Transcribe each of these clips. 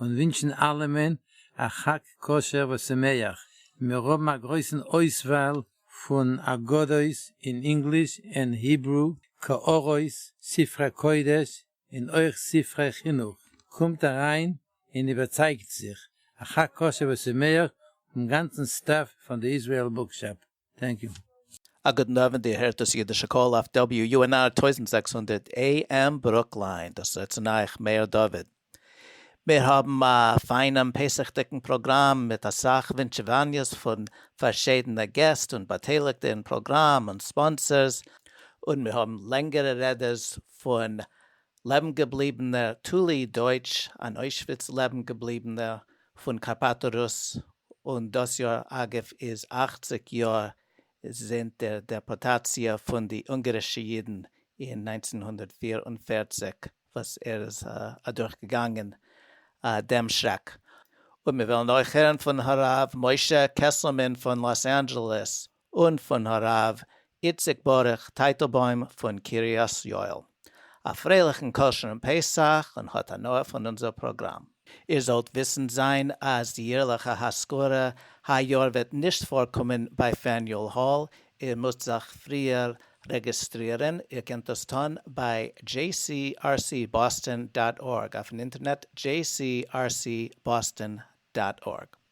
און ווינטשן אלעמען א חג כשר ושמח, מיר האבן א גרויסן אויסוואל פון אגדות אין ענגליש ענד היברו, קערות, ספרי קודש און אויך ספרי חינוך, קומט אריין און איבערצייגט זיך, א חג כשר ושמח פון גאנצן סטעף פון די איזריעל בוקשאפ. טענק יו. א גוטן אווענט, איר הערט דאס אידישע קול אויף WUNR טויזנט זעקס הונדערט AM ברוקלין, דאס איז אצינד אייך מאיר דוד. מיר האבן א פיינעם פסח'דיגן פראגראם מיט אסאך ווינטשעוואניעס פון פארשידענע געסט און באטייליגטע אין פראגראם און ספאנסערס, און מיר האבן לענגערע רעדעס פון לעבן געבליבענער טולי דויטש, אן אוישוויץ לעבן געבליבענער, פון קארפאטא רוס, און דאס יאר אגב איז אַכציק יאר זינט דער דעפארטאציע פון די אונגארישע אידן אין נײַנצן הונדערט פֿיר און פֿערציק וואס ער איז אדורך געגאנגען דעם שרעק, און מיר וועלן אויך הערן פון הרב משה קעסלמאן פון לאס אנדזשעלעס און פון הרב איציק ברוך טייטלבוים פון קרית יואל. א פרייליכן כשר'ן פסח און האט הנאה פון אונזער פראגראם. איר זאלט וויסנד זיין אז די יערליכע האזכרה היי יאר וועט נישט פארקומען ביי פעניול האל, איר מוזט זיך פריער רעגיסטרירן, איר קענט דאס טון ביי jcrcboston דאט ארג אויפן אינטערנעט jcrcboston דאט ארג.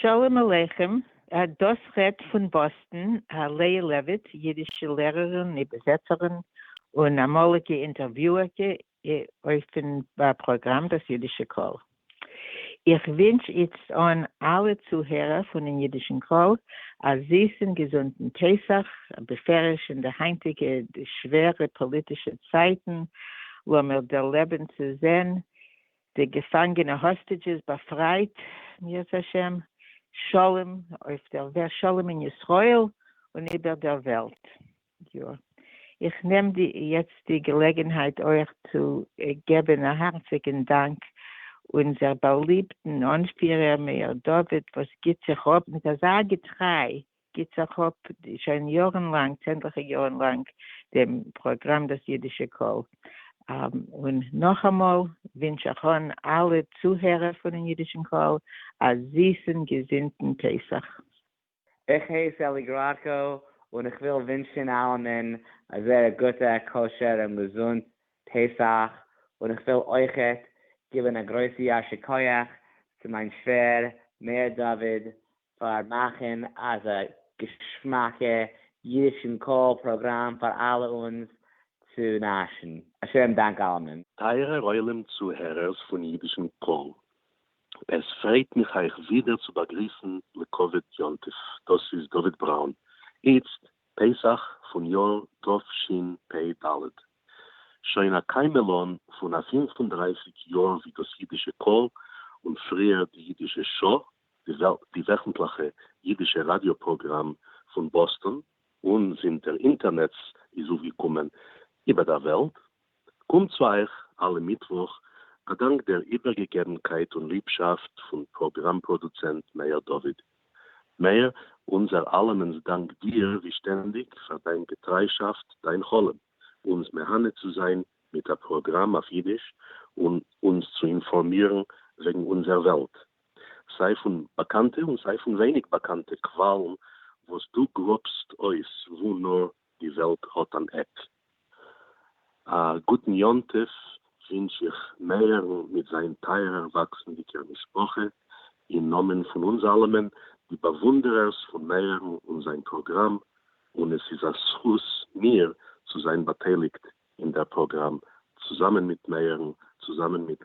שלום עליכם, דאס רעדט פון באסטן, א לאה לעוויט, אידישע לערערין, איבערזעצערין, און אמאליגע אינטערוויוערקע אויפן פראגראם דאס אידישע קול. איך ווינטש איצט אן אלע צוהערער פונען אידישן קול א זיסן געזונטן פסח, בפרש אין די היינטיגע שווערע פאליטישע צייטן, לאמיר דערלעבן צו זען די געפאנגענע האסטידזשעס באפרייט, ירצה השם, שלום אויף דער וועלט, שלום אין ישראל און איבער דער וועלט. יא. איך נעם די יעצט די געלעגענהייט אויך צו געבען א הארציגען דאנק אונזער באליבטען אנפירער מאיר דוד וואס גיבט זיך אפ מיט אזא געטריי גיט זיך אפ שוין יארן לאנג, צענדליכע יארן לאנג, דעם פראגראם דאס אידישע קול. און נאכאמאל ווינטש איך אן אלע צוהערער פונעם אידישן קול א זיסן געזינטן פסח. איך הייס אלי גראקא און איך וויל ווינטשן אלעמען א זייער גוטע, כשר און געזונט פסח, און איך וויל אויכעט גיבן א גרויסע יישר כח צו מיין שווער מאיר דוד פאר מאכן אזא געשמאקע אידישן קול פראגראם פאר אלע אונז צו נאשן. א שעה'ן דאנק אלעמען. טייערער עולם צוהערערס פון אידישן קול, עס פרייט מיך אייך ווידער צו באגריסן לכבוד יום טוב, דאס איז דוד בראון, איצט פסח פון יאר תשפ ד, שוין א קיימעלאן פון א פֿינף און דרײַסיק יאר ווי דאס אידישע קול, און פריער די אידישע שעה, די וועכנטליכע אידישע ראדיא פראגראם פון באסטאן, און זינט דער אינטערנעץ איז אויפגעקומען איבער דער וועלט, קומט צו אייך אלע מיטוואך א דאנק דער איבערגעגעבנקייט און ליבשאפט פון פראגראם פראדוצענט מאיר דוד. מאיר, אונזער אלעמענס דאנק דיר ווי שטענדיג פאר דיין געטריישאפט דיין חלום, אונז מהנה צו זיין מיט א פראגראם אויף אידיש און אונז צו אינפארמירן וועגן אונזער וועלט, סיי פון באקאנטע און סיי פון ווייניג באקאנטע קוואלן וואס דו גראבסט אויס וואו נאר די וועלט האט אן עק. א גוטן יום טוב ווינטש איך מאיר'ן מיט זיין טייערער וואקסנדיגער משפחה, אין נאמען פון אונז אלעמען די באוואונדערערס פון מאיר'ן און זיין פראגראם, און עס איז א זכות מיר צו זיין באטייליגט אין דער פראגראם צוזאמען מיט מאיר'ן, צוזאמען מיט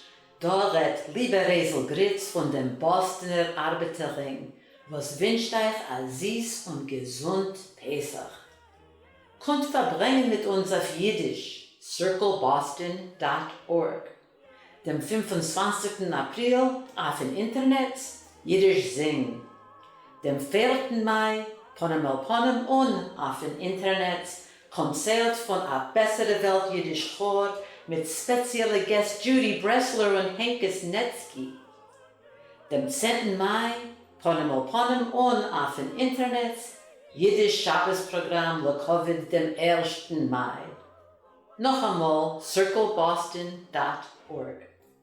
דא רעדט ליבער רעזל גריץ פון דעם באסטנער ארבעטער רינג וואס ווינטשט אייך א זיס און געזונט פסח. קומט פארברענגן מיט אונז אויף אידיש! Circleboston דאט ארג, דעם פֿינף און צוואַנציקן אפריל אויפן אינטערנעץ, אידיש זינג, דעם פערטן מאי פנים אל פנים און אויפן אינטערנעץ קאנצערט פון א בעסערע וועלט אידיש כאר מיט ספעציעלע געסט דזשודי ברעסלער און הענקעס נעצקי דעם צענטן מאי פנים אל פנים און אויפן אינטערנעץ אידיש שבת פראגראם לכבוד דעם ערשטן מאי נאכאמאל סירקל באסטאן דאט ארג.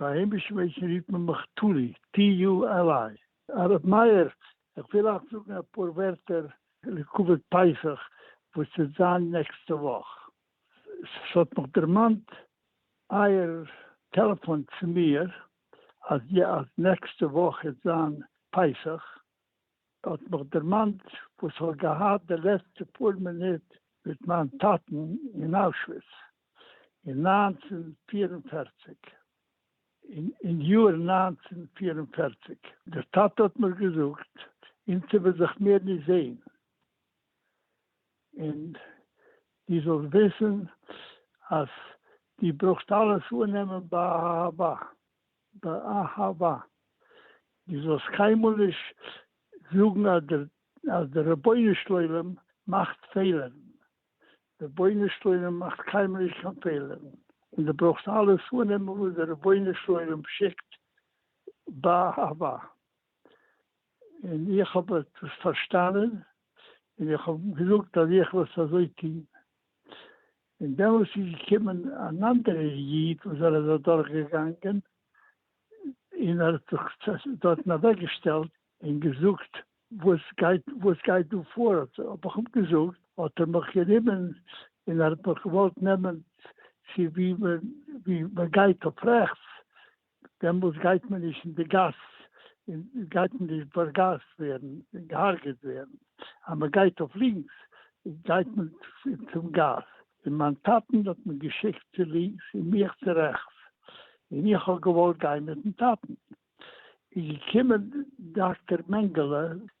ביי היימיש-מענטשן רופט מען מיך טולי, TULI. הרב מאיר, איך וויל אייך זאגן אפאר ווערטער לכבוד פסח וואס וועט זיין נעקסטע וואך. ס'האט מיך דערמאנט אייער טעלעפאן צו מיר אז נעקסטע וואך וועט זיין פסח, האט מיך דערמאנט וואס איך האב געהאט די לעצטע פאר מינוט מיט מיין טאטן אין אוישוויץ אין נײַנצן פֿיר און פֿערציק, אין אין יאר נײַנצן פֿיר און פֿערציק, דער טאטע האט מיר געזאגט אונז וועלן זיך מער נישט זעהן, און דו זאלסט וויסן אז דו ברויכסט אלעס אננעמען באהבה, באהבה, דו זאלסט קיינמאל נישט זאגן אז דער רבונו של עולם מאכט פעלערן, דער רבונו של עולם מאכט קיינמאל נישט קיין פעלערן, און דו ברויכסט אלעס אננעמען וואס דער רבונו של עולם שיקט באהבה, און איך האב עס פארשטאנען און איך האב געזאגט אז איך וועל עס אזוי טון, און דעמאלס איז געקומען אן אנדערער איד וואס ער איז אדורך געגאנגען, און ער האט זיך דארטן אוועק געשטעלט און געזאגט, וואס גייט וואס גייט דא פאר, האט האב איך אים געזאגט, האט ער מיך גענומען און ער האט מיך געוואלט נעמען צו ווי מען ווי מען גייט אויף רעכטס, דעמאלס גייט מען נישט אין די גאס, און גייט מען נישט בארגאזט ווערן און געהארגעט ווערן, אז מען גייט אויף לינקס גייט מען צום גאס, און מיין טאטן האט מיר געשיקט צו לינקס און מיך צו רעכטס, און איך האב געוואלט גיין מיטן טאטן, איז געקומען דאקטער מענגעלע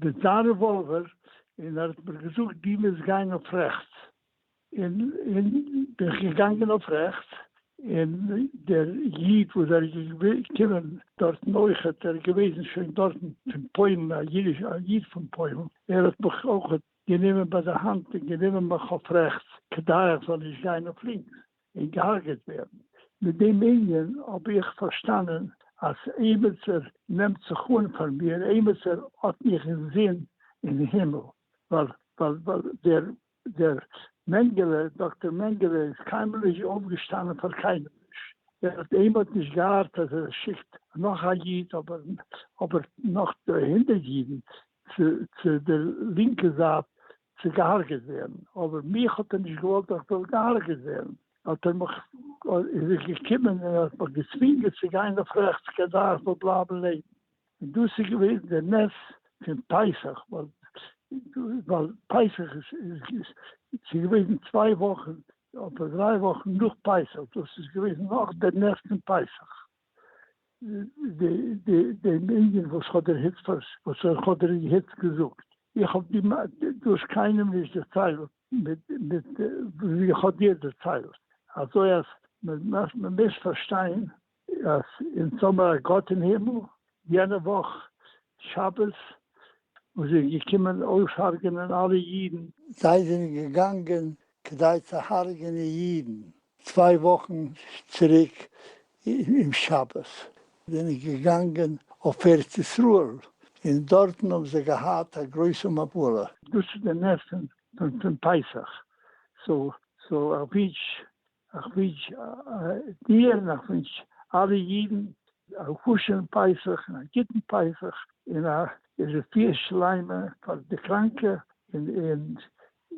די דיין רעוואלווער און ער האט מיר געזאגט דו מוזט גיין אויף רעכטס און און בין איך געגאנגען אויף רעכטס און דער איד וואס ער איז געקומען דארטן אויכעט ער איז געוועזן שוין דארטן פון פוילן א אידיש א איד פון פוילן ער האט מיך אויכעט גענומען ביי די האנט און גענומען מיך אויף רעכטס כדי איך זאל נישט גיין אויף לינקס און געהארגעט ווערן. מיט דעם ענין האב איך פארשטאנען אז אייבערטער נעמט זיך אן פאר מיר, אייבערטער האט מיך אינזין אין הימל, ווייל ווייל דער דער מענגעלע, דאקטער מענגעלע איז קיינמאל נישט אויפגעשטאנען פאר קיינעם נישט, ער האט אים האט נישט געהארט אז ער שיקט נאך א איד אבער אבער נאך הונדערט אידן צו צו דער לינקע זייט צו געהארגעט ווערן, אבער מיך האט ער נישט געוואלט איך זאל געהארגעט ווערן, האט ער מיך איז ער געקומען און ער האט מיך געצווינגען צו גיין אויף רעכטס כדי איך זאל בלייבן לעבן, און דאס איז געווען דער נס פון פסח, ווייל פסח איז ס'איז געווען צוויי וואכן אדער דריי וואכן נאך פסח, דאס איז געווען נאך דער נס פון פסח. דעם אינגען וואס האט דער היצ פאר וואס אויך האט דער היצ געזאגט, איך האב די מע דאס קיינעם נישט דערציילט מיט מיט ווי איך האב דיר דערציילט, אזוי אז מ'מעש מ'מעש פארשטיין אז אונז האמער א גאט אין הימל, יענע וואך שבת וואס איז געקומען אויסהארגענען אלע אידן. זיי זענען געגאנגען כדי צו הארגענען אידן. צוויי וואכן צוריק אום שבת בין איך געגאנגען אויף ארץ ישראל און דארטן האבן זיי געהאט א גרויסע מפלה. דאס איז די נס פון פסח, סאו איך ווינטש דיר און איך ווינטש אלע אידן א כשר'ן פסח און א גוטן פסח און א רפואה שלימה פאר די קראנקע און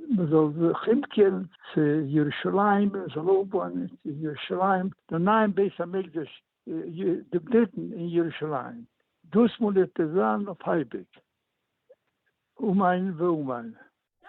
מען זאל זיך אומקערן צו ירושלים, מען זאל אויפבויען אין ירושלים דעם נייעם בית המקדש, דעם דריטן אין ירושלים, דאס מאל וועט עס זיין אויף אייביג, אמן ואמן. דיינו!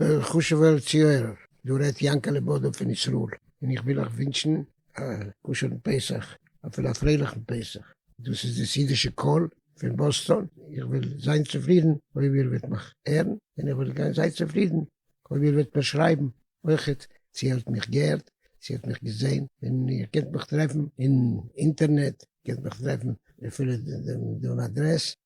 וועלכע חשוב'ער צוהערער, דא רעדט יענקעלע בודא פון ישראל, און איך וויל אייך ווינטשן א כשר'ן פסח, אפילו א פרייליכן פסח, דאס איז דאס אידישע קול פון באסטאן, איך וועל זיין צופרידן אויב איר וועט מיך הערן, און איך וועל זיין צופרידן אויב איר וועט מיר שרייבן אויכעט צו איר האט מיך געהערט, צו איר האט מיך געזען, און איר קענט מיך טרעפן אין אינטערנעט, איר קענט מיך טרעפן אויף אפילו דעם אדרעס,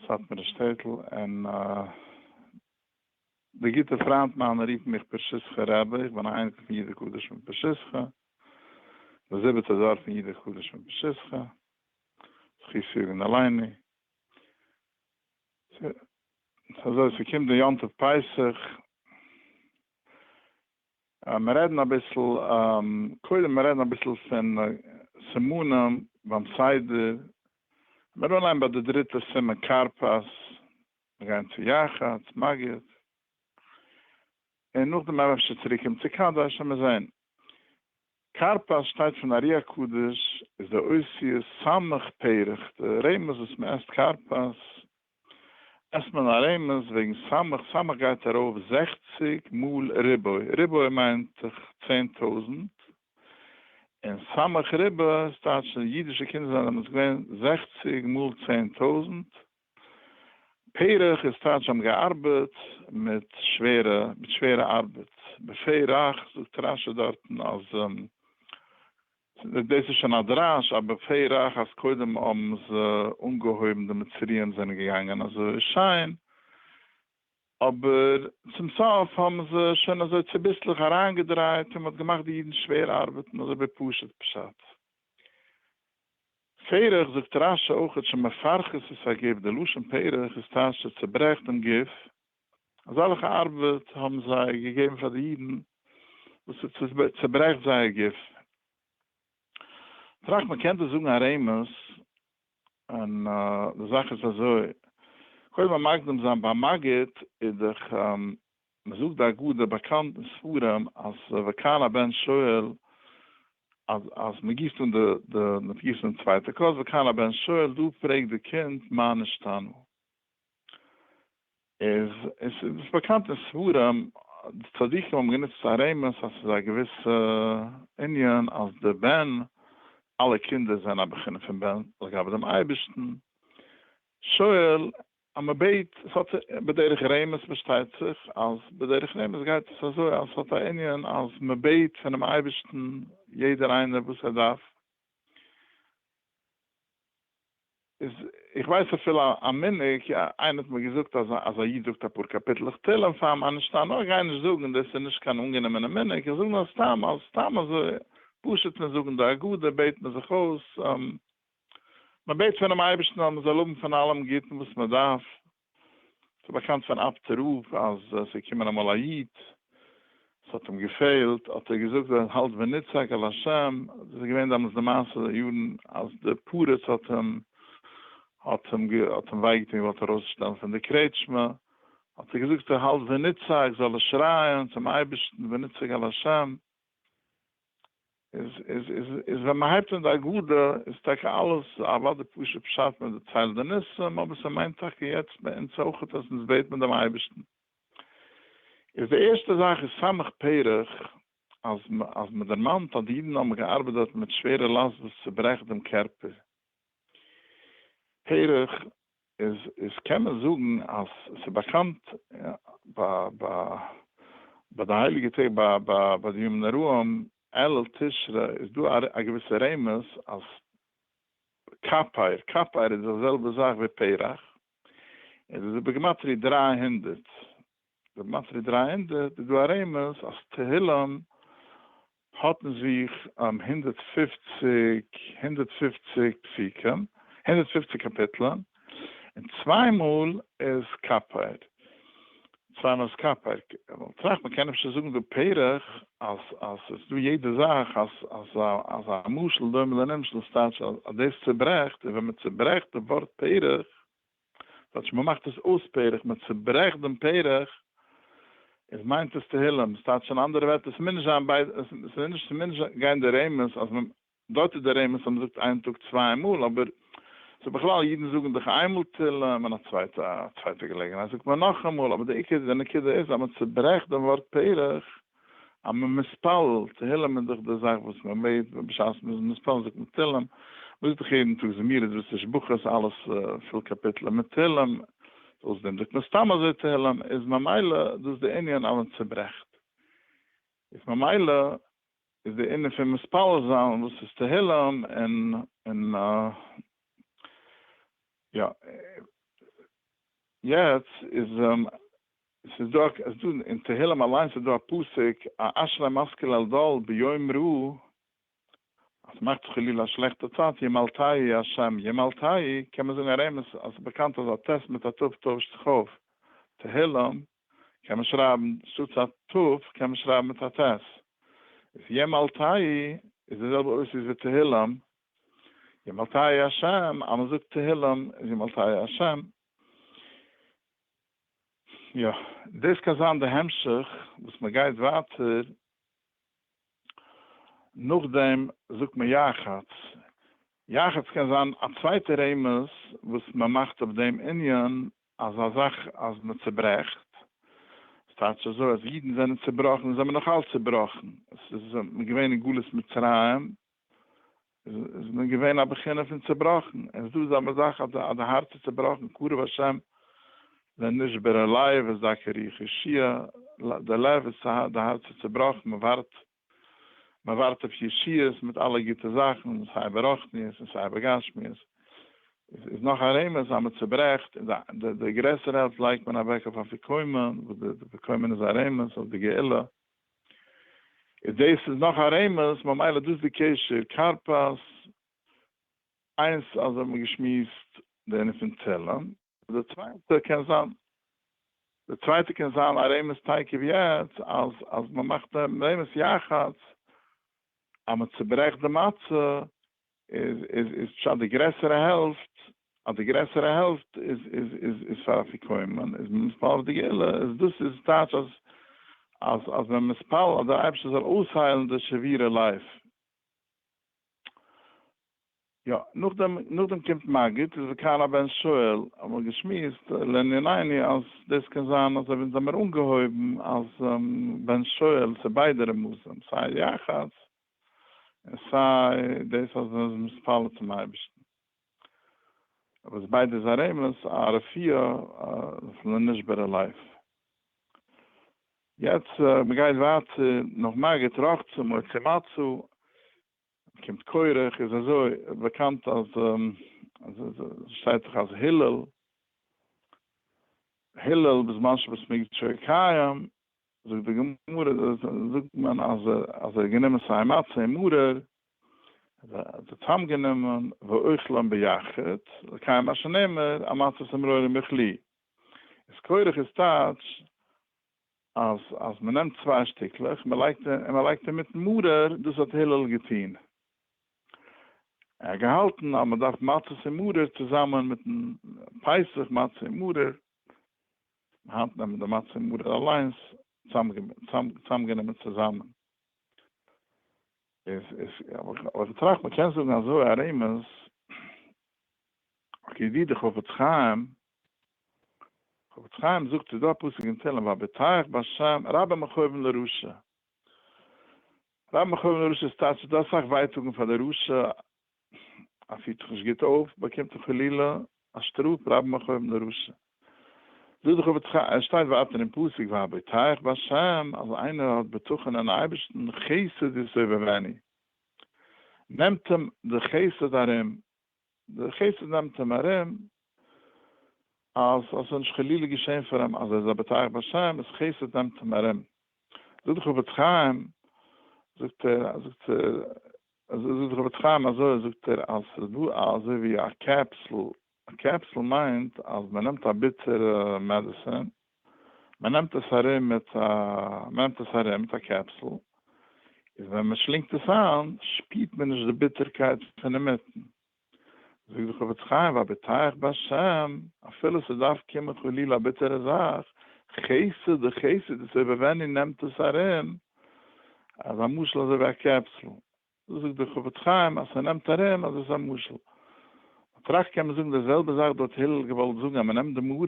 סאטמארע שטעטל, און די גוטע פריינט מיינע רופן מיך פרשיסחא רבי, איך בין א אייניקל פון יידער קדוש פון פרשיסחא, די זיבעטע דור פון יידער קדוש פון פרשיסחא, זכות יגון עלינו. ס'איז אזוי, ס'קומט די יום טוב פסח, מיר רעדן אביסל, קודם מיר רעדן אביסל פון סימנים ביים סדר, מיר אנהייבן ביי די דריטע סימן כרפס, מיר גייען צו יחץ, מגיד, און נאכדעם מען אפשר צוריק קומען צו קדש, העמיר זען. כרפס שטייט פון ארי הקדוש, איז די אותיות סמך פרח, די רמז וואס מען עסט כרפס עסט מען א רעמעס וועגן סמך, סמך גייט ארויף זעכציג מאל ריבוי, ריבוי מיינט דאך צען טויזענט, און סמך ריבע עס טייטשט אז אידישע קינדער זיינען דעמאלטס געווען זעכציג מאל צען טויזענט, פרח איז טייטש זיי האבן געארבעט מיט שווערע מיט שווערע ארבעט, בפה רך זאגט רשי דארטן אז דאס איז שוין א דרש אבער פי רח אז קודם האבן זיי אנגעהויבן די מצריים זענען געגאנגען אזוי שיין אבער צום סוף האבן זיי שוין אזוי צוביסלעך אריינגעדרייט און מען האט געמאכט די אידן שווער ארבעטן אזוי ווי פשוט פשט פי רח זאגט רש ש אויך שמפרכת את הגוף די לשון פי רח איז טאהש צו צוברעכט דעם גוף. אזעלכע ארבעט האבן זיי געגעבן פאר די אידן וואס עס צעברעכט זייער גוף. טראכט מען קען דאס זאגן א רמז, און די זאך איז אזוי, קודם א מקדים זיין ביי מגיד איז דאך, מען זאגט די אגדה באקאנט אין ספרים אז וכאן הבן שואל, אז אז מען גיסט אן די גיסט אן די צווייטע כוס, וכאן הבן שואל, דא פרעגט די קינד מה נשתנו. איז עס איז באקאנט אין ספרים די צדיקים האבן גענוצט פאר רמז אז ס'איז א געוויסע ענין אז די בן אלע קינדער זענען א בחינה פון בן לגבי דעם אייבערשטן שואל אז מען בעט עס האט בדרך רמז פארשטייט זיך אז בדרך רמז גייט עס אזוי אז עס האט א ענין אז מען בעט פונעם אייבערשטן יעדער איינער וואס ער דארף איז איך ווייס אפילו א מנהג, איינער האט מיר געזאגט אז אז א איד זאגט אפאר קאפיטלעך תהלים פאר מ א נישטא, נאר איך גיי נישט זאגן, דאס איז נישט קיין אנגענומענע מנהג, איך זאג נאר סתם אז סתם אזוי פשוט פון זאגן די הגדה בעט מען זיך אויס, מען בעט פונעם אייבערשטן אז מען זאל האבן פון אלעם גוטן וואס מען דארף, ס'איז באקאנט פון אב ד רב אז עס איז געקומען אמאל א איד, עס האט אים געפעלט, האט ער געזאגט ווער עס האלט ונצעק אל השם, דאס איז געווען דעמאלס די מעשה יארן אז די פרץ האט אים האט אים האט אים וויי געטון געוואלט ארויס שטעלן פון די קרעטשמע, האט ער געזאגט ווער האלט ונצעק זאל ער שרייען צום אייבערשטן ונצעק אל השם. איז ווען מען הייבט אן די הגדה איז טאקע אלעס אוואו די פשוט פשט מען דערציילט די ניסים אבער ס'מיינט טאקע יעצט ביי אונז אויכעט אז אונז בעט מען דעם אייבערשטן איז די ערשטע זאך איז סמך פרח אז אז מען דערמאנט אז די אידן האבן געארבעט דארט מיט שווערע לאסט וואס צוברעכט דעם קערפער פרח איז קען מען זאגן אז ס'איז באקאנט ביי די הייליגע טעג ביי די ימים נוראים אלול תשרי איז דא א געוויסע רמז אז קאפיר קאפיר איז די זעלבע זאך ווי פרח און עס איז בגימטריא דרײַ הונדערט די מצבי דרײַ הונדערט איז דא א רמז אז תהילים האט אין זיך הונדערט פֿופֿציק הונדערט פֿופֿציק פסוקים, הונדערט פֿופֿציק קאפיטלען, און צוויי מאל איז קאפייט, צוויי מאל איז קאפייט, כ'האב טראכט מ'קען אפשר זאגן דא פרח אז אז ס'איז דא יעדע זאך אז אז אז א משל דומה לנמשל, ס'טייטש אז דאס צוברעכט, און ווען מ'צוברעכט די ווארט פרח, כאטש מען מאכט עס אויס פרח, מען צוברעכט דעם פרח, איז מיינט עס תהילים, עס טייטש אין אנדערע ווערטער, עס מוז נישט זיין ביידע, עס מוז נישט, עס מוז נישט גיין די רמז אז מען, דארט איז די רמז אז מען זאגט איין טאג צוויי מאל, אבער ס'איז בכלל, אידן זאגן דאך איינמאל תהילים, און א צווייטע, א צווייטע געלעגנהייט זאגט מען נאכאמאל, אבער די עיקר, די נקודה איז אז מען צוברעכט דעם ווארט פרח, אז מען מתפלל תהלים איז דאך די זאך וואס מען בעט, בשעת מען איז מתפלל זאגט מען תהלים, מען זאגט דאך יעדן טאג זמירות ותשבחות אלעס פול קאפיטלען מיט תהלים, אויס דעם זאגט מען סתם אזוי תהלים, איז ממילא דאס די ענין אז מען צוברעכט, איז ממילא איז די ענין פון מתפלל זיין וואס איז תהלים און און יא יעצט איז עס איז דא א, עס דא אין תהלים אליינס איז דא א פסוק, א אשרי משכיל אלדאל ביום רע, אז ס'מאכט זיך חלילה א שלעכטע צייט, ימל תהי השם, ימל תהי, קען מען זאגן א רמז, אז ס'איז באקאנט אז א ט' מיט א ת' טוישט זיך אויף, תהלים קען מען שרייבן, שטאטס א ת' קען מען שרייבן מיט א ט', איז ימל תהי איז די זעלבע אותיות ווי תהלים, ימל תהי השם, אז מ'זאגט תהלים איז ימל תהי השם. יא, דאס קען זיין די המשך וואס מען גייט ווייטער נאכדעם זאגט מען יחץ, יחץ קען זיין א צווייטע רמז וואס מען מאכט אויף דעם ענין אז א זאך אז מען צוברעכט, עס טייטש אזוי אז אידן זענען צובראכן און זענען נאכאלץ צובראכן, עס איז מען געווען אין גלות מצרים איז מען געווען א בחינה פון צעבראכן, און ס'דא אזא זאך אז די הארץ איז צעבראכן, קרב השם לנשבר הלב וזכה רוח ישועה, די לב איז צעהאט, די הארץ איז צעבראכן, מען ווארט, מען ווארט אויף ישועות מיט אלע גוטע זאכן, סיי ברחניות און סיי בגשמיות, איז נאך א רמז אז מען צעברעכט, און די די גרעסערע העלפט לייגט מען אוועק אויף אפיקומן, וואס די אפיקומן איז א רמז אויף די גאולה. איז דאס איז נאך א רמז, ממילא דאס די קשר כרפס איינס אז האבן מיר געשמועסט די ענין פון תהלים. די צווייטע קען זיין די צווייטע קען זיין א רמז טייקע ווי יעצט אז אז מען מאכט רמז יחץ אז מען צוברעכט די מצה איז פשט די גרעסערע העלפט אז די גרעסערע העלפט איז פאר אפיקומן און מען מתפלל אויף די גאולה איז דאס איז טייטש אז אז אז מען מתפלל אז דער אייבערשטער זאל אויסהיילן די שבירה לב. יא, נאכדעם נאכדעם קומט מגיד איז וכאן הבן שואל, האבן מיר געשמועסט לענינינו אז דאס קען זיין אז אויב אונז האבן מיר אנגעהויבן אז בן שואל ס'ביידע רמזים סיי יחץ, און סיי דאס אז מען איז מתפלל צום אייבערשטן, וואס ביידע איז א רמז א רפואה אויף לנשבר הלב. יעצט מען גייט ווייטער נאך מגיד רחצה מוציא מצה קומט קורח איז אזוי באקאנט אז שטייט דאך אז הלל הלל בזמן שבית מקדשו קיים זאגט די גמרא זאגט מען אז ער אז ער האט גענומען סיי מצה מרור ער האט זיי צוזאם גענומען ואוכלם ביחד לקיים מה שנאמר א מצות מרור עם אוכלי איז כורך איז טייטש אז אז מען נעמט צוויי שטיקלעך מען לייגט און מען לייגט אינמיטן מרור דאס האט הלל געטוהן ער האט געהאלטן אז מען דארף מצות עם מרור צוזאמען מיטן פסח מצה עם מרור. היינט נעמען די מצה מרור אליינס צוזאמגענומען צוזאמען. אבער כ'טראכט מ'קען זאגן אזוי א רמז, אקעי ווי די חפץ חיים, חפץ חיים זאגט ס'איז דא א פסוק אין תהלים והביטחך בהשם רבה מכאובן לרשע, רבה מכאובן לרשע איז טייטש ס'איז דא אסאך ווייטאגן פאר די רשע אז פירט זיך נישט גוט אויף באקומט ער חלילה א שטראף רבים אחויב נרשע זאג די חפץ חיים עס שטייט ווייטער אין פסוק והבטח בהשם אז איינער האט בטחון אין אייבערשטן חסד יסובבני נעמט אים די חסד ארום די חסד נעמט אים ארום אז עס זאל נישט חלילה געשעהן פאר אים אז ער זאל בטח באשען איז חסד נעמט אים ארום זאגט די חפץ חיים זאגט ער זאגט זאגט די חפץ חיים אזוי זאגט ער אז עס איז דא אזוי ווי א קעפסל א קעפסל מיינט אז מען נעמט א ביטערע מעדעסין מען נעמט עס ארום מיט א מען נעמט עס ארום מיט א קעפסל איז ווען מען שלינגט עס איין שפירט מען נישט די ביטערקייט פון אינמיטן. זאגט די חפץ חיים ואבטח בהשם, אפילו ס'דארף קומען חלילה א ביטערע זאך, חסד די חסד איז איבער ווען איר נעמט עס ארום, אז א משל אזוי ווי א קעפסל, דאס זאגט די חפץ חיים אז ס'נעמט ארום אז עס איז א משל, מ'טראכט קען מען זאגן די זעלבע זאך דא האט הילל געוואלט זאגן אז מ'נעמט די מרור,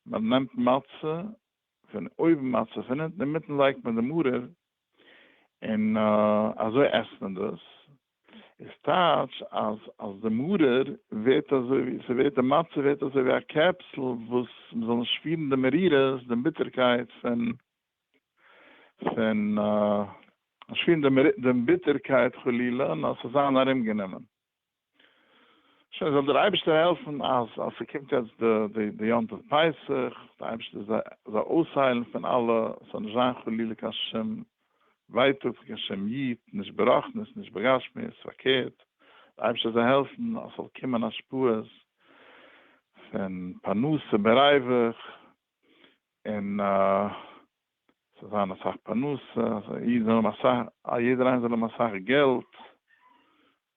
מ'נעמט מצה פון אויבן מצה פון אונטן אינמיטן לייגט מען די מרור, און אזוי עסט מען דאס. איז טייטש אז אז די מרור ווערט אזוי ווי ס'ווערט די מצה ווערט אזוי ווי א קעפסל וואס מ'זאל נישט שפירן די מרירות די ביטערקייט פון פון נישט שפירן די ביטערקייט חלילה נאר ס'זיין ארומגענומען. שוין זאל דיר אייבערשטער העלפן אז אז ס'קומט יעצט די די יום טוב פסח, די אייבערשטער זאל זיי אויסהיילן פון אלע, ס'זאל נישט זיין חלילה קיין שום ווייטאג פון קיין שום יוד, נישט ברחנית נישט בגשמיות, פארקערט די אייבערשטער זאל העלפן אז ס'זאל קומען השפעות פון פרנסה בריווח, און ס'זאל זיין אסאך פרנסה, אז א איד זאל האבן אסאך, א יעדער איינער זאל האבן אסאך געלט,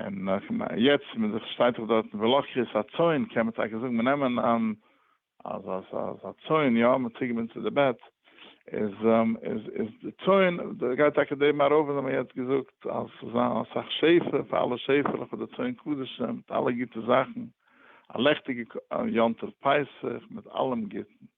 און יעצט מען זיך שטייט זיך דארטן ולא כרית הצאן קען מען טאקע זאגן מען נעמען אן אז אז אז א צאן יא מען צוגעבינדן צו די בעט איז איז איז די צאן די גייט טאקע די מערב וואס האבן יעצט געזאגט אז ס'זאל זיין אסאך שפע פאר אלע שעפעלעך און די צאן קדשים מיט אלע גוטע זאכן א לעכטיגע יום טוב פסח מיט אלעם גוטן.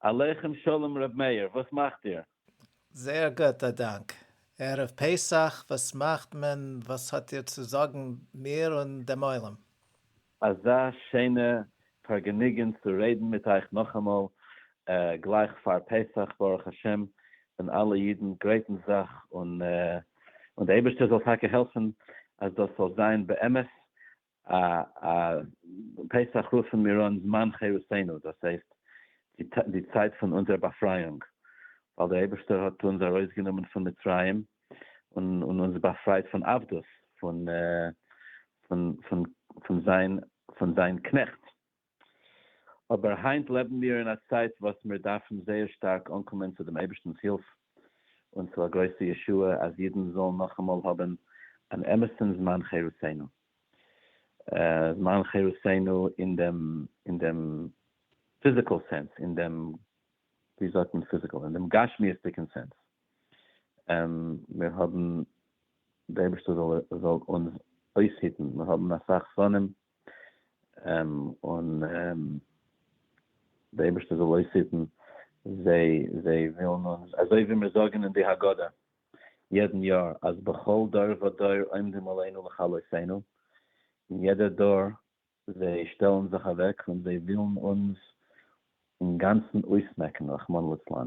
עליכם שלום ר' מאיר, וואס מאכט איר? זייער גוט א דאנק. ערב פסח וואס מאכט מען וואס האט איר צו זאגן מיר און דעם עולם? אזא שיינע פארגעניגען צו רעדן מיט אייך נאכאמאל גלייך פאר פסח ברוך השם ווען אלע אידן גרייטן זיך און און די אייבערשטער זאל טאקע העלפן אז דאס זאל זיין באמת א א פסח רופן מיר אן זמן חירותינו, דאס הייסט די צייט פון אונזער באפרייאונג, ווייל דער אייבערשטער האט אונז ארויסגענומען פון מצרים און אונז באפרייט פון עבדות, פון פון פון זיין פון זיין קנעכט. אבער היינט לעבן מיר אין א צייט וואס מיר דארפן זייער שטארק אנקומען צו דעם אייבערשטנ'ס הילף און צו א גרויסע ישועה אז אידן זאלן נאכאמאל האבן אן אמת'ן זמן חירותינו, זמן חירותינו אין דעם אין דעם פיזיקעל סענס, אין דעם, ווי זאגט מען פיזיקעל, אין דעם גשמיות'דיגן סענס, מיר האבן, דער אייבערשטער זאל אונז אויסהיטן, מיר האבן אסאך זמנים און דער אייבערשטער זאל אויסהיטן זיי, זיי ווילן אונז, אזוי ווי מיר זאגן אין די הגדה יעדן יאר, אז בכל דור ודור עומדים עלינו לכלותינו, אין יעדע דור זיי שטעלן זיך אוועק און זיי ווילן אונז אינגאנצן אויסמעקן רחמנא לצלן.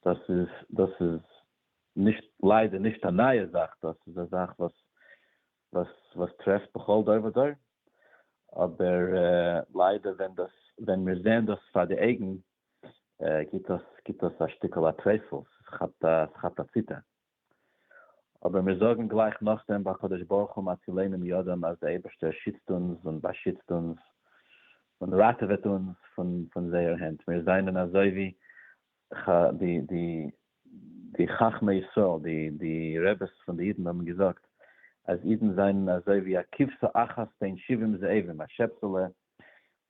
דאס איז, דאס איז נישט, ליידער נישט א נייע זאך, דאס איז א זאך וואס וואס טרעפט בכל דור ודור, אבער ליידער ווען מיר זעען דאס פאר די אויגן גיבט דאס א שטיקל א טרייסל, ס'כאפט א ציטער, אבער מיר זאגן גלייך נאכדעם בקדוש ברוך הוא מצילנו מידם אז די אייבערשטער שיצט אונז און באשיצט אונז און ראטעוועט אונז פון זייער הענט, מיר זענען אזוי ווי ח די די די חכמי ישראל די די רעבעס פון די אידן האבן געזאגט אז אידן זענען אזוי ווי א כבשה אחת בין שבעים זאבים א שעפסעלע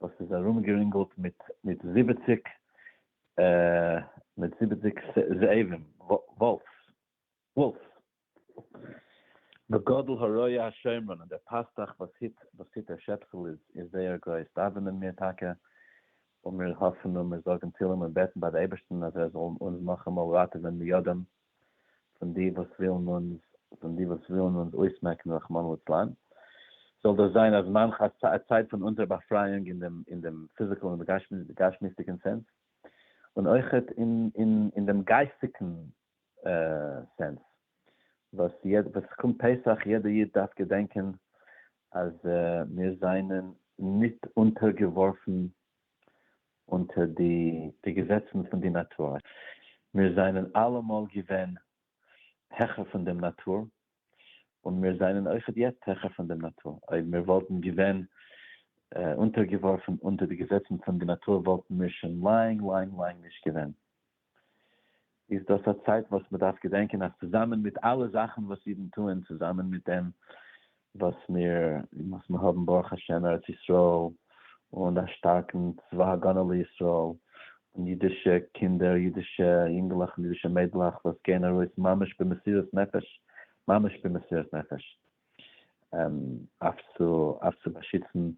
וואס איז ארומגערינגלט מיט מיט זיבעציק מיט זיבעציק זאבים וואלפס. וואלף. בגודל הרועה השומרון, און דער פאסטאך וואס היט וואס היט דער שעפסל איז איז זייער גרויס, דאווענען מיר טאקע, און מיר האפן און מיר זאגן תהלים און בעטן ביי די אייבערשטן אז ער זאל אונז נאכאמאל ראטעווען מידם פון די וואס ווילן אונז פון די וואס ווילן אונז אויסמעקן רחמנא לצלן, זאל דאס זיין א זמן ח ס א צייט פון אונזער באפרייאונג אין דעם אין דעם פיזיקל און גשמיות'דיגן סענס, און אויכעט אין אין אין דעם גייסטיגן סענס וואס ס'קומט פסח יעדע איד דארף געדענקען אז מיר זענען נישט אונטערגעווארפן אונטער די געזעצן פון די נאטור, מיר זענען אלעמאל געווען העכער פון דעם נאטור, און מיר זענען אויכעט יעצט העכער פון דעם נאטור, אויב מיר וואלטן געווען אונטערגעווארפן אונטער די געזעצן פון די נאטור וואלטן מיר שוין לאנג לאנג לאנג נישט געווען. איז דאס א צייט וואס מען דארף געדענקען אז צוזאמען מיט אלע זאכן וואס אידן טוען, צוזאמען מיט דעם וואס מיר וואס מיר האבן ברוך השם ארץ ישראל און א שטארקן צבא הגנה לישראל און אידישע קינדער, אידישע יונגעלעך און אידישע מיידלעך וואס גייען ארויס ממש במסירות נפש, ממש במסירות נפש, אויף צו אויף צו באשיצן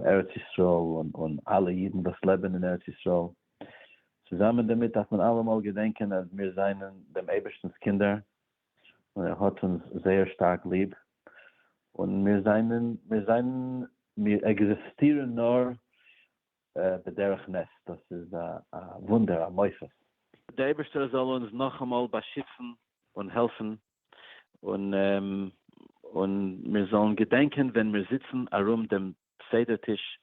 ארץ ישראל און אלע אידן וואס לעבן אין ארץ ישראל, צוזאמען דערמיט דארף מען אלעמאל געדענקען אז מיר זענען דעם אייבערשטנ'ס קינדער און ער האט אונז זייער שטארק ליב, און מיר זענען מיר זענען מיר עקזיסטירן נאר בדרך נס, דאס איז א וואונדער, א מופת. דער אייבערשטער זאל אונז נאכאמאל באשיצן און העלפן, און מיר זאלן געדענקען ווען מיר זיצן ארום דעם סדר טיש,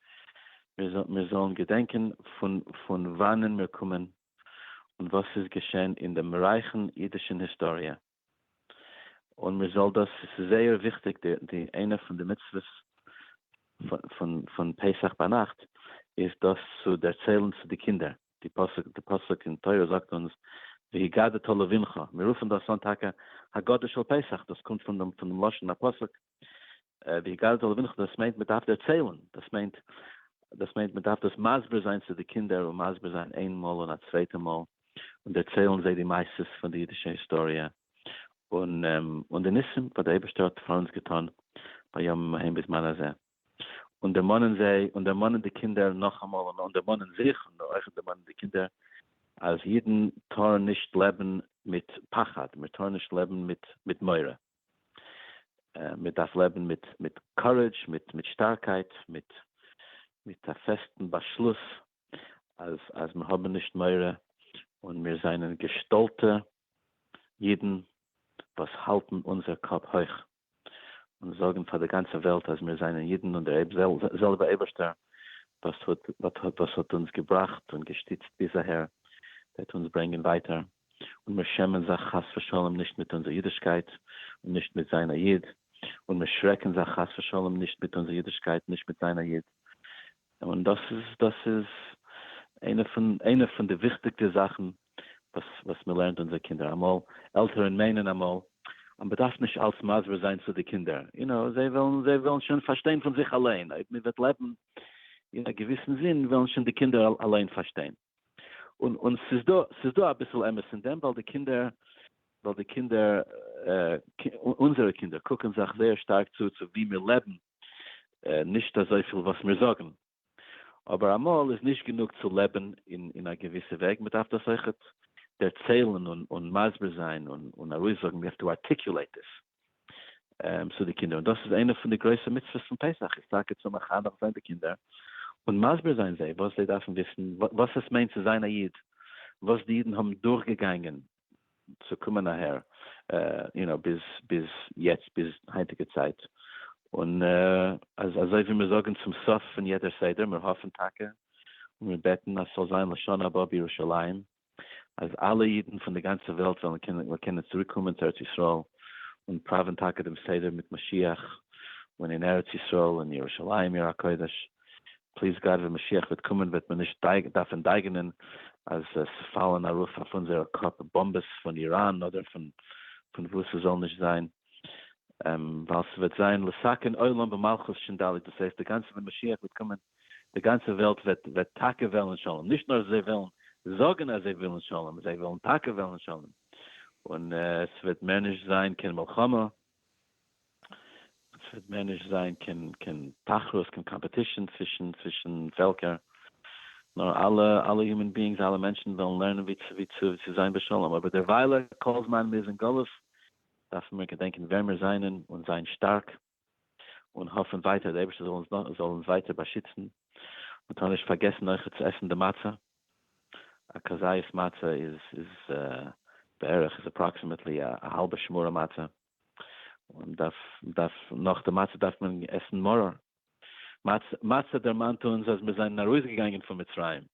מיר זאלן געדענקען פון וואנען מיר קומען, און וואס ס'איז געשען אין דעם רייכן אידישן היסטאריע. און מען זאל דאס, עס איז זייער וויכטיג, די איינע פון די מצוות פון פסח ביינאכט איז דאס צו דערציילן צו די קינדער, די פסוק די פסוק אין תורה זאגט אונז והגדת לבנך, מיר רופן דאס אן טאקע הגדה של פסח, דאס קומט פון דעם לשון הפסוק, די גר זאל ווינחת דאס מיינט מען דארף דערציילן, דאס מיינט דאס מיינט מען דארף דאס מסביר זיין צו די קינדער און מסביר זיין איין מאל און א צווייטע מאל און דערציילן זיי די מעשות פון די אידישע היסטאריע און און די ניסים וואס דער אייבערשטער האט פאר אונז געטון בימים ההם בזמן הזה און דערמאנען זיי און דערמאנען די קינדער נאכאמאל און און דערמאנען זיך און אויך דערמאנען די קינדער אז אידן טארן נישט לעבן מיט פחד, מיר טארן נישט לעבן מיט מיט מורא. מען דארף לעבן מיט מיט קארעדזש, מיט מיט שטארקייט, מיט מיט א פעסטן באשלוס אז אז מיר האבן נישט מורא, און מיר זענען געשטאלטע אידן וואס האלטן אונזער קאפ הויך, און זאגן פאר די גאנצע וועלט אז מיר זענען אידן און דער זעלבע אייבערשטער וואס האט וואס האט אונז געבראכט און געשטיצט ביז אהער וועט אונז ברענגען ווייטער. און מיר שעמען זיך חס ושלום נישט מיט אונזער אידישקייט און נישט מיט זיין א איד, און מיר שרעקן זיך חס ושלום נישט מיט אונזער אידישקייט נישט מיט זיין א איד, און דאס איז דאס איז איינע פון איינע פון די וויכטיגע זאכן וואס וואס מען לערנט אונזער קינדער, אמאל עלטערן מיינען אמאל אז מען דארף נישט אלס מסביר זיין צו די קינדער, יו נאו, זיי וועלן זיי וועלן שוין פארשטיין פון זיך אליין, אויב מען וועט לעבן אין א געוויסן זין וועלן שוין די קינדער אליין פארשטיין. און און ס'איז דא ס'איז דא אביסל אמת אין דעם ווייל די קינדער ווייל די קינדער אונזערע קינדער קוקן זיך זייער שטארק צו צו ווי מיר לעבן נישט אזויפיל וואס מיר זאגן אבער אמאל איז נישט גענוג צו לעבן אין אין א געוויסע וועג מען דארף דאס אויכעט דערציילן און און מסביר זיין און און ארויסזאגן ווי אויף די ארטיקולעיט עס. צו די קינדער, און דאס איז איינע פון די גרויסע מצוות פון פסח, איז טאקע צו מחנך זיין די קינדער, און מסביר זיין זיי וואס זיי דארפן וויסן, וואס עס מיינט צו זיין א איד, וואס די אידן האבן דורכגעגאנגען צו קומען אהער, יו נאו, ביז יעצט, ביז היינטיגע צייט, און אז אזוי ווי מיר זאגן צום סוף פון יעדער סדר, מיר האפן טאקע און מיר בעטן אז ס'זאל זיין לשנה הבאה בירושלים, אז אלע אידן פון די גאנצע וועלט וועלן קענען צוריק קומען צו ארץ ישראל און פראווען טאקע דעם סדר מיט משיח און אין ארץ ישראל און ירושלים עיר הקודש, פליז גאד ווען משיח וועט קומען וועט מען נישט דארפן דייגענען אז עס פאלן ארויף אויף אונזערע קאפ באמבעס פון איראן אדער פון וואו ס'זאל נישט זיין, ווייל ס'וועט זיין לסכן עולם במלכות שין ד' דאס הייסט די גאנצע ווען משיח וועט קומען די גאנצע וועלט וועט וועט טאקע וועלן שלום, נישט נאר זיי וועלן זאגן אז זיי ווילן שלום, זיי וועלן טאקע וועלן שלום, און עס וועט מער נישט זיין קיין מלחמה, עס וועט מער נישט זיין קיין קיין תחרות, קיין קאמפעטישן צווישן צווישן פעלקער, נאר אלע אלע יומען ביאינגס, אלע מענטשן וועלן לערנען ווי צו ווי צו צו זיין בשלום, אבער דערוויילע כל זמן מ'איז אין גלות דארפן מיר געדענקען ווער מיר זענען און זיין שטארק, און האפן ווייטער דער אייבערשטער זאל אונז זאל אונז ווייטער באשיצן, מען טאר נישט פארגעסן אויכעט צו עסן די מצה, א כזית מצה איז איז בערך איז אפראקסימעטלי א האלבע שמורה מצה, און דארף דארף נאך די מצה דארף מען עסן מרור מצה, מצה דערמאנט אונז אז מיר זענען ארויסגעגאנגען פון מצרים,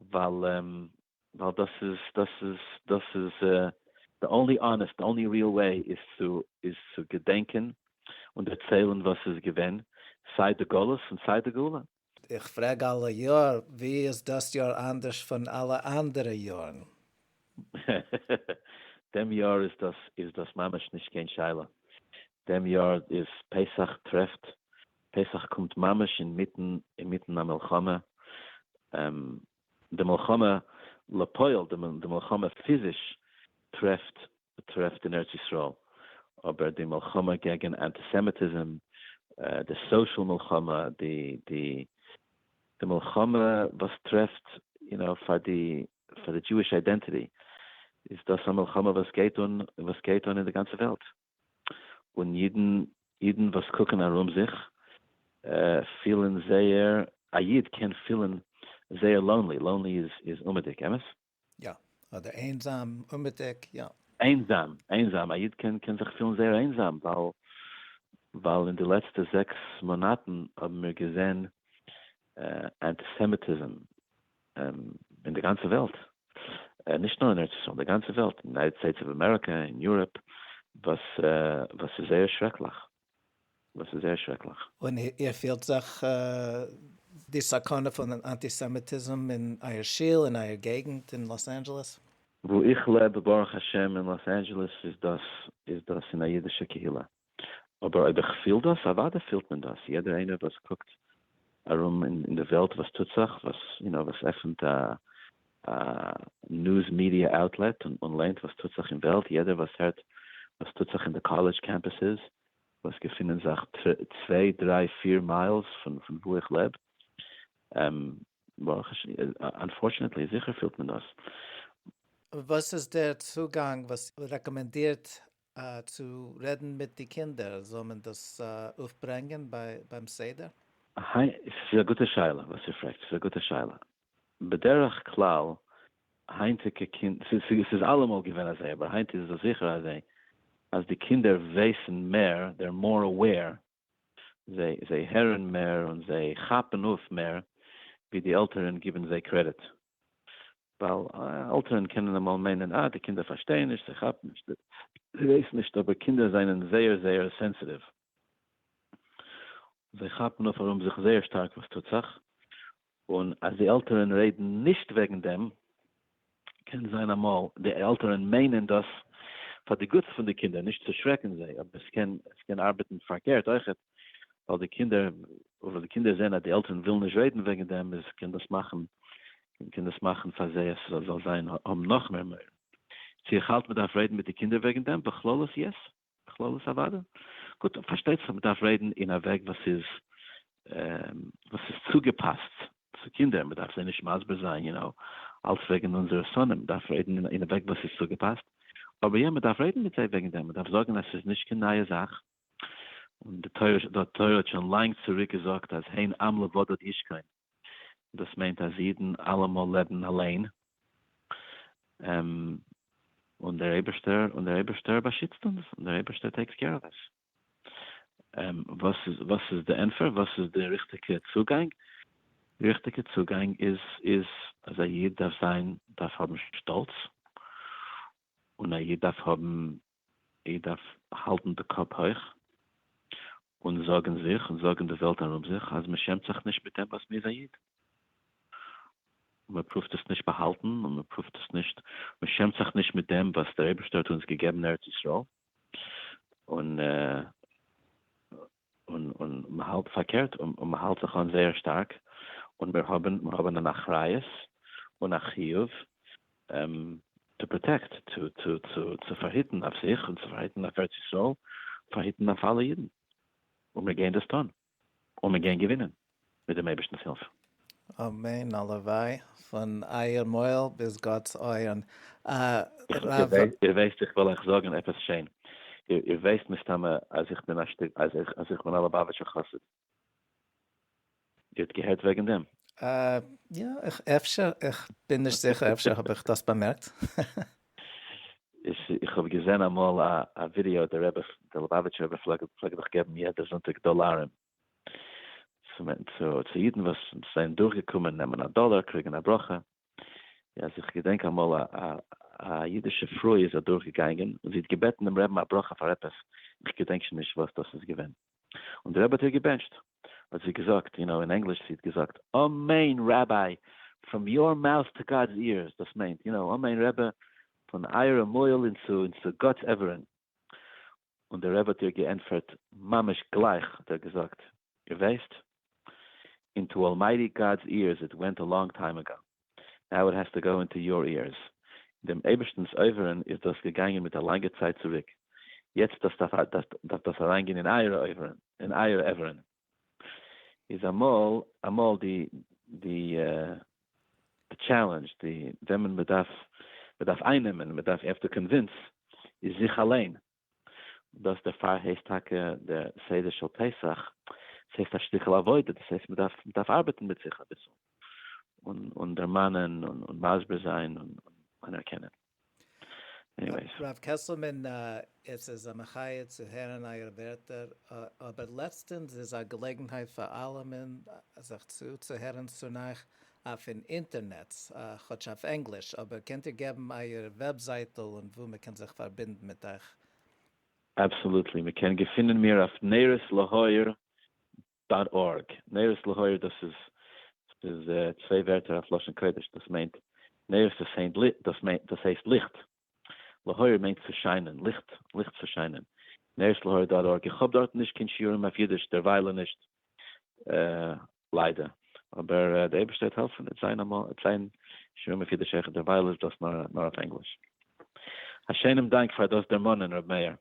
ווייל דאס איז דאס איז דאס איז די אנלי אנעסט די אנלי ריעל וועי איז צו איז צו געדענקען און דערציילן וואס איז געווען סיי די גלות און סיי די גאולה. איך פרעג אלע יאר, ווי איז דאס יאר אנדערש פון אלע אנדערע יארן? דעם יאר איז דאס איז דאס ממש נישט קיין שאלה, דעם יאר איז פסח טרעפט פסח קומט ממש אינמיטן אינמיטן א מלחמה, די מלחמה לפועל, די מלחמה פיזיש טרעפט טרעפט אין ארץ ישראל, אבער די מלחמה קעגן אנטיסעמיטיזם, די סאושעל מלחמה, די די די מלחמה וואס טרעפט יו נאו פאר די פאר די דזשואיש איידענטיטי, איז דאס א מלחמה וואס גייט אן וואס גייט אן אין די גאנצע וועלט. און אידן אידן וואס קוקן ארום זיך פילן זייער א איד קען פילן זייער לאונלי, לאונלי איז איז אומעטיג, אמת? יא, אדער איינזאם, אומעטיג, יא. איינזאם, איינזאם, א איד קען קען זיך פילן זייער איינזאם, ווייל ווייל אין די לעצטע זעקס מאנאטן האבן מיר געזען אנטיסעמיטיזם אין די גאנצע וועלט, נישט נאר אין ארץ ישראל, די גאנצע וועלט, אין יונייטעד סטעיטס אוו אמעריקע, אין יוראפ, וואס איז זייער שרעקליך, וואס איז זייער שרעקליך. און איר פילט זיך די סכנה פון אנטיסעמיטיזם אין אייער שול, אין אייער געגנט אין לאס אנדזשעלעס? וואו איך לעב, ברוך השם, אין לאס אנדזשעלעס איז דאס אין א אידישע קהילה. אבער אויב איך פיל דאס, אוודאי פילט מען דאס, יעדער איינער וואס קוקט ארום אין די וועלט וואס טוט זיך, וואס יו נאו וואס עפענט א ניוז מידיע אוטלעט און ליינט וואס טוט זיך אין וועלט, יעדער וואס הערט וואס טוט זיך אין די קאלעדזש קעמפוסעס וואס געפינען זיך צוויי דריי פיר מיילס פון וואו איך לעב, ברוך השם, אנפארטשענעטלי, זיכער פילט מען דאס. וואס איז דער צוגאנג וואס רעקאמענדירט צו רעדן מיט די קינדער, זאל מען דאס אויפברענגען ביים סדר? היינט, ס'איז א גוטע שאלה וואס איר פרעגט, ס'איז א גוטע שאלה, בדרך כלל היינטיגע קינד, ס'איז אלעמאל געווען אזוי, אבער היינט איז עס זיכער אזוי אז די קינדער ווייסן מער, דער מאר אוועיר, זיי הערן מער און זיי כאפן אויף מער ווי די עלטערן גיבן זיי קרעדיט. ווייל עלטערן קענען אמאל מיינען אה די קינדער פארשטייען נישט, זיי כאפן נישט, זיי ווייסן נישט, אבער קינדער זענען זייער זייער סענסיטיוו, זיי כאפן אויף ארום זיך זייער שטארק וואס טוט זיך, און אז די עלטערען רעדן נישט וועגן דעם, קען זיין אמאל די עלטערען מיינען דאס פאר די גוטס פון די קינדער, נישט צו שרעקן זיי, אבער עס קען עס קען ארבעטן פארקערט אויכעט, ווייל די קינדער ווייל די קינדער זעהן אז די עלטערען ווילן נישט רעדן וועגן דעם, איז קען דאס מאכן קען דאס מאכן פאר זיי אז זאל זיין האבן נאכמער מורא. צו איך האלט מען דארף רעדן מיט די קינדער וועגן דעם בכללות? יעס. בכללות אוואדע. גוט, פארשטייט זיך מ'דארף רעדן אין א וועג וואס איז וואס איז צוגעפאסט צו קינדער, מ'דארף זיי נישט מסביר זיין יו נאו אלץ וועגן אונזערע שונאים, מ'דארף רעדן אין א וועג וואס איז צוגעפאסט, אבער יא מ'דארף רעדן מיט זיי וועגן דעם, מ'דארף זאגן אז ס'איז נישט קיין נייע זאך, און די תורה האט שוין לאנג צוריק געזאגט אז הן עם לבדד ישכון, דאס מיינט אז אידן אלעמאל לעבן אליין, און דער אייבערשטער באשיצט אונז, און דער אייבערשטער טעיקס קעיר אוו אס. וואס איז די ענטפער? וואס איז די ריכטיגע צוגאנג? די ריכטיגע צוגאנג איז אז א איד דארף האבן שטאלץ, און א איד דארף האבן איך דארף האלטן די קאפ הויך און זארגן זיך און זארגן די וועלט ארום זיך אז מען שעמט זיך נישט מיט דעם וואס מען איז א איד, און מען פרואווט עס נישט באהאלטן און מען פרואווט עס נישט, מען שעמט זיך נישט מיט דעם וואס דער אייבערשטער האט אונז געגעבן ארץ ישראל און. און און מ'האלט פארקערט און און מ'האלט זיך אן זייער שטארק, און מיר האבן מיר האבן אן אחריות און א חיוב טו פראטעקט, צו צו צו צו פארהיטן אויף זיך און צו פארהיטן אויף ארץ ישראל, פארהיטן אויף אלע אידן, און מיר גייען דאס טון, און מיר גייען געווינען. מיט דעם אייבערשטנ'ס הילף. אמן, הלוואי, פון אייער מויל ביז גאט'ס אויערן. הרב. איר ווייסט איך וועל אייך זאגן עפעס שיין, איר ווייסט מסתמא אז איך בין א שטיק, אז איך בין א ליובאוויטשער חסיד, איר האט געהערט וועגן דעם? יא, אפשר, איך בין נישט זיכער, אפשר האב איך דאס באמערקט. איך האב געזען אמאל א ווידיאו, דער רבי, דער ליובאוויטשער רבי פלעגט דאך געבן יעדע זונטאג דאלארן צו אידן וואס זענען דורכגעקומען נעמען א דאלער קריגן א ברכה, אז איך געדענק אמאל א א אידישע פרוי איז אדורכגעגאנגען און זי האט געבעטן דעם רעבן א ברכה פאר עפעס, איך געדענק שוין נישט וואס דאס איז געווען, און דער רבי האט איר געבענטשט, האט זי געזאגט, און אין ענגליש זי האט געזאגט, אמן ראביי, פראם יאר מאוט טו גאד'ס איערס, דאס מיינט, יו נאו, אמן רבי, פון אייערע מויל און צו גאט'ס אברים, און דער רבי האט איר געענטפערט ממש גלייך האט ער געזאגט, איר ווייסט, אינטו אלמייטי גאד'ס איערס איט ווענט א לאנג טיים עגאו, נאו איט העז טו גאו אינטו יור איערס, אין דעם אייבערשטנ'ס אויבערן איז דאס געגאנגען מיט א לאנגע צייט צוריק, יעצט דארף דאס אריינגיין אין אייערע אויבערן, אין אייערע אייבערן. איז אמאל אמאל די די די טשעלענדזש די וועמען מען דארף מען דארף איינעמען מען דארף יעפטו קאנווינס איז זיך אליין דאס דערפאר הייסט טאקע דער סדר של פסח ס'הייסט א שטיקל עבודה דאס הייסט מען דארף מען דארף ארבעטן מיט זיך אביסל און און דערמאנען און מסביר זיין און אנערקענען. עניוועיס. רב קעסלמאן עס איז א מחיה צו הערן אייער ווערטער, אבער לעצטענס איז א געלעגנהייט פאר אלעמען זיך צו צו הערן צו נייעס אויפן אינטערנעץ, כאטש אויף ענגליש, אבער קענט איר געבן אייער וועבזייטל און וואו מען קען זיך פארבינדן מיט אייך? אבסאלוטלי, מען קען געפינען מיר אויף נרות להאור דאט ארג, נרות להאיר דאס איז ס'איז צוויי ווערטער אויף לשון קודש דאס מיינט נרות איז היינט לי דאס מיינט דאס הייסט ליכט להאיר מיינט צו שיינען ליכט ליכט צו שיינען נרות להאיר דאט ארג איך האב דארטן נישט קיין שיעורים אויף אידיש דערוויילע נישט ליידער אבער דער אייבערשטער וועט העלפן וועט זיין אמאל וועט זיין שיעורים אויף אידיש העכער דערווייל איז דאס נאר נאר אויף ענגליש א שיינעם דאנק פאר דאס דערמאנען ר' מאיר.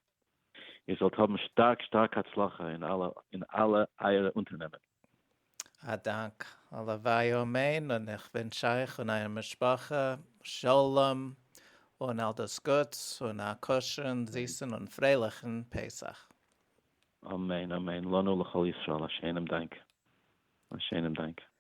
איר זאלט האבן שטארק שטארק הצלחה אין אלע אין אלע אייערע אונטערנעמען. א דאנק. הלוואי אמן, און איך ווינטש אייך און אייער משפחה שלום און אל דאס גוטס און א כשר'ן, זיסן און פרייליכן פסח. אמן אמן לנו לכל ישראל א שיינעם דאנק א שיינעם דאנק.